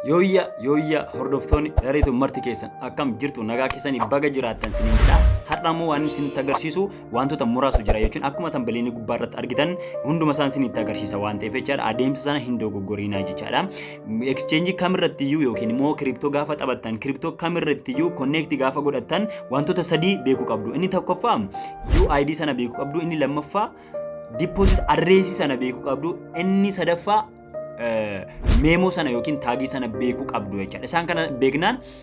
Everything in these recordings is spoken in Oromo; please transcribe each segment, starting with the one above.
Yooyya yooyya hordoftoonni dareetu marti keessan akkam jirtu nagaa keessanii baga jiraattan siniin jedha har'a immoo waan isinitti agarsiisu wantoota muraasu jira jechuun akkuma tambaliinii gubbaa irratti argitan hunduma isaan isinitti agarsiisa waan ta'eef jechaadha adeemsa sana hin dogoggoriinaa jechaadha Exchange kamirratti iyyuu yookiin immoo kiriptoo gaafa taphattan kiriptoo kamirratti iyyuu connect gaafa godhattan wantoota sadii beekuu qabdu. Inni tokkoffaa UID sana beekuu qabdu. Inni lammaffaa deposit address sana beekuu qabdu. Inni sadaffaa meemoo sana yookiin taagii sana beekuu qabdu jechaadha. Isaan kana beeknaan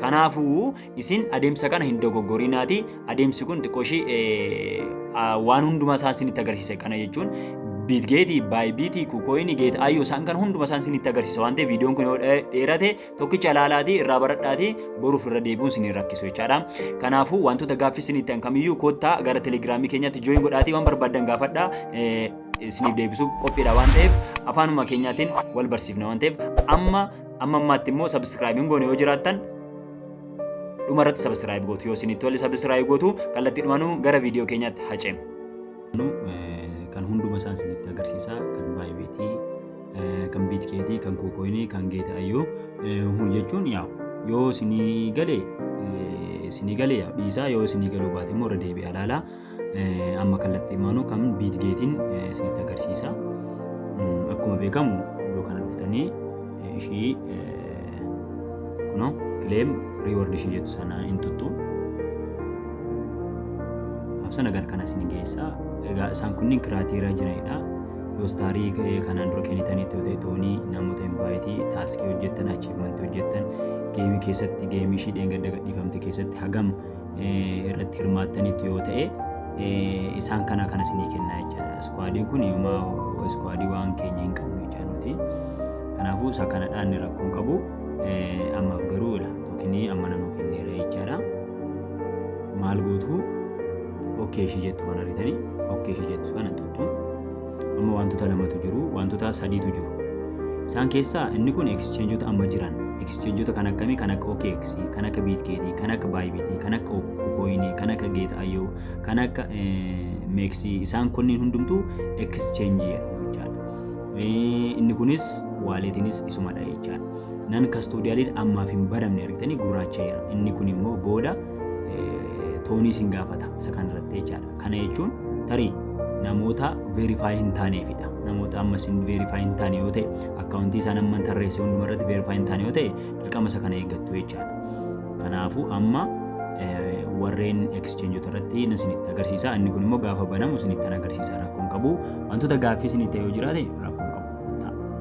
Kanaafuu isin adeemsa kana hin dogoggorinaati. Adeemsi kun xiqqoo ishii eh, ah, waan hundumaa isaan isinitti agarsiisa. Kana jechuun biitgeetii, baayibiitii, kuukooyinii, geet ayyoo isaan kana hundumaa isaan isinitti agarsiisa waan ta'eef viidiyoon kun yoo dhe- dheerate tokkicha ilaalaatii irraa baradhaatii boruuf irra deebi'uun isin hin rakkisu jechaadha. Kanaafuu wantoota gaaffii isinitti ta'an kamiyyuu kottaa gara telegiraamii keenyaatti jooyin godhaatii waan barbaaddan gaafadhaa. Eh, isiniif deebisuuf qophiidha waan ta'eef afaanuma keenyaatiin wal barsiifna waan ta'eef amma Amma ammaatti immoo subscribe hin goone yoo jiraattan dhuma irratti subscribe gootu yoo isinitti tole subscribe gootu kallattii dhumanuu gara viidiyoo keenyaatti haceem. Kan hunduma isaan isinitti agarsiisaa kan baayibeetii kan biitkeetii kan kookooyinii kan geeta ayyoo hun jechuun yaa yoo isinii galee isinii galee dhiisaa yoo isinii galuu baate immoo irra deebi'aa ilaalaa. Amma kallattii imaanuu kan biitgeetiin isinitti agarsiisa. Akkuma beekamu iddoo kana dhuftanii ishii kunoo kileem riiwardi ishii jettu sana hin tuttu. Absana gar kana isin geessa. Egaa isaan kunniin kiraateeraa jiranidha. Yoostaarii kanaan dura kennitanii yoo ta'e toonii namoota invaayitii taaskii hojjettan achiivimantii hojjettan geemii keessatti geemii ishii dheengadda gadhiifamte keessatti hagam irratti hirmaattanitti yoo ta'e isaan kana kana isinii kenna jechaadha. Iskuwaadii kun yooma iskuwaadii waan keenya hin qabnu jechaa nuti. Kanaafuu isa kanadhaan inni rakkoo hin qabu. Ammaaf garuu ila tokenii amma nanuu kenneera jechaadha. Maal gootu okkee ishee jettu kana argitanii okkee ishee jettu kana tuttu. Amma wantoota lamatu jiru, wantoota sadiitu jiru. Isaan keessaa inni kun exchangeota amma jiran. Exchangeota kan akkamii kan akka OKX, kan akka Bitget, kan akka Bybit, kan akka Kucoin, kan akka Gate.io, kan akka Mex isaan kunniin hundumtuu exchange jedhamu jechaadha. Inni kunis waaleetiinis isumadha jechaadha. Nan kastoodiyaaliin ammaaf hin baramne argitanii gurraacha jira. Inni kun immoo booda toonii sin gaafata isa kanarratti jechaadha. Kana jechuun tarii namoota verify hin taaneefidha. Namoota amma isin verify hin taane yoo ta'e akkaawuntii isaan amma tarreesse hunduma irratti verify hin taane yoo ta'e dirqama isa kana eeggattu jechaadha. Kanaafuu amma warreen exchangeota irratti inni isinitti agarsiisa. Inni kun immoo gaafa banamu isinitti agarsiisa rakkoon qabu. Wantoota gaaffii isinitti yoo jiraate rakkoon qabu.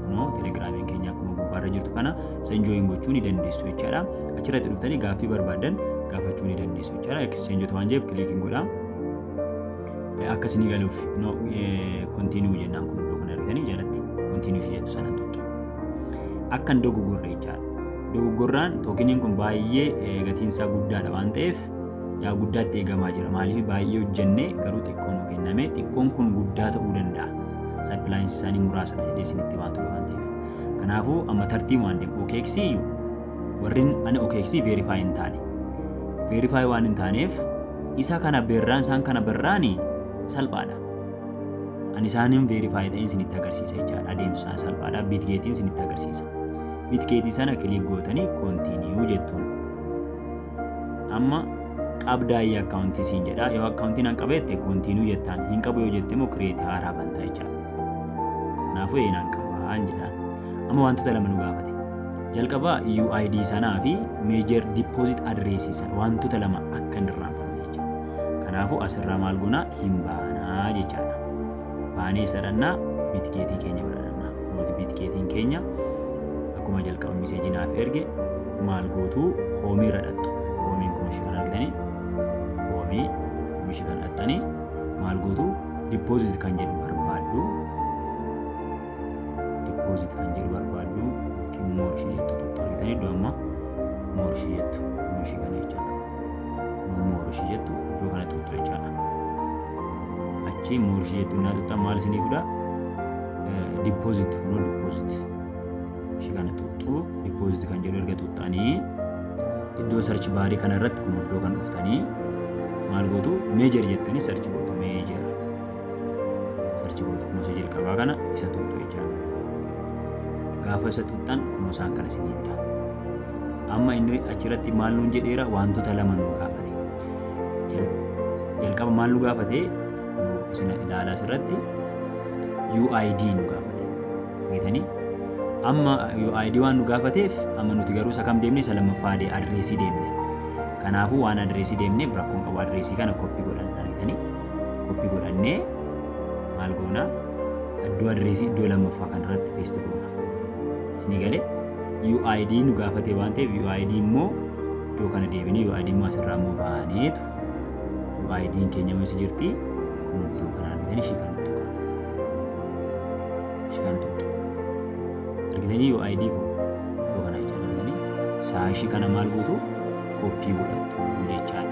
kunoo telegiraamiin keenya akkuma gubbaarra jirtu kana san jooyin gochuu ni dandeessu jechaadha achirratti dhuftanii gaaffii barbaadan gaafachuu ni dandeessu jechaadha exchangeota waan jedheef kiliikiin godha akkas ni galuuf no kontiinuu jennaan kun iddoo kana argitanii jalatti kontiinuu ishee jettu sana tuttu akkan dogoggorre jechaadha dogoggorraan tookiniin kun baay'ee gatiin isaa guddaadha waan ta'eef yaa guddaatti eegamaa jira maaliif baay'ee hojjennee garuu xiqqoo nu kenname xiqqoon kun guddaa ta'uu danda'a sappilaayinsi isaanii muraasadha jedhee isinitti himaa ture waan ta'eef. Kanaafuu amma tartiibumaan deemu OKX iyyuu warreen ani OKX verify hin taane. Verify waan hin taaneef isa kana berraan isaan kana berraani salphaadha. Ani isaaniin verify ta'een isinitti agarsiisa jechaadha. Adeemsi isaan salphaadha. Bitgeetiin isinitti agarsiisa. Bitgeetii sana kiliik gootanii continue jettuun. amma qabdaa iyya akkaawuntii siin jedha yoo akkaawuntiin an qabeette koontiinuu jettaan hin qabu yoo jette immoo kireetii haaraa bantaa jechaadha kanaafuu ee naan qabaa hin jedha amma wantoota lama nu gaafate jalqabaa UID sanaa fi meejer dippooziit adireesii sana wantoota lama akka hin irraanfanne jechaadha kanaafuu asirraa maal goonaa hin baanaa jechaadha Baanee isa dhannaa bitgeetii keenya bira dhannaa. Kunooti bitgeetiin keenya akkuma jalqaba miseejii naaf erge maal gootuu hoomii irra dhattu. Hoomiin kun ishii kan argitanii hoomii kun ishii kan dhattanii maal gootuu dippooziit kan jedhu barbaaddu. Dippooziit kan jedhu barbaaddu yookiin moorshii jettu tuttu argitanii iddoo ammaa moorshii jettu kun ishii kana jechaadha. moor ishii jettu iddoo kana tuqxu jechaadha. Achii moor ishii jettu naa tuqxan maal isinii fida? Dippoozitti kunoo dippoozitti. Ishii kana tuqxu dippoozitti kan jedhu erga tuqxanii iddoo sarchi baarii kana irratti kun iddoo kan dhuftanii maal gootu meejer jettanii sarchi gootu meejer sarchi gootu kun isa jalqabaa kana isa tuqxu jechaadha. Gaafa isa tuqxan kun isaan kana isinii fida. Amma inni achirratti maal nuun jedheera wantoota lama nu gaafate. Jalqaba maal nu gaafate isin ilaalaa asirratti UID nu gaafate. Beetanii amma UID waan nu gaafateef amma nuti garuu isa kam deemne isa lammaffaa dee adreesii deemne. Kanaafuu waan adreesii deemneef rakkoon qabu adreesii kana koppii godhanna beetanii koppii godhannee maal goona iddoo adreesii iddoo lammaffaa kanarratti peesti goona. Isinii galee UID nu gaafatee waan ta'eef UID immoo iddoo kana deebinee UID immoo asirraa immoo baaneetu UID keenya immoo isa jirti kun iddoo kana argitanii ishii kana tuqaa. Ishii kana tuqxu. Argitanii UID kun iddoo kana jechuudha argitanii saa ishii kana maal gootu koppii godhattu jechaadha.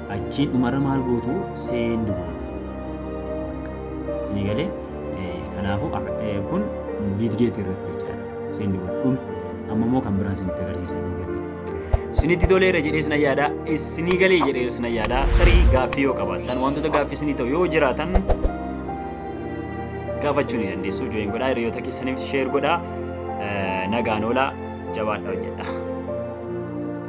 Achii dhumarra maal gootu seendu gootu. Isinii galee kanaafuu kun biitgeet irratti jechaadha. Seendu gootu dhume amma immoo kan biraa isinitti agarsiisa duubatti. Isinitti toleera jedhees na yaada. Isinii galee jedhees na yaada. Tarii gaaffii yoo qabaattan wantoota gaaffii isinii ta'u yoo jiraatan gaafachuu ni dandeessu. Join godhaa hiriyoota keessaniif share godhaa. Nagaan oolaa jabaadha hojjedha.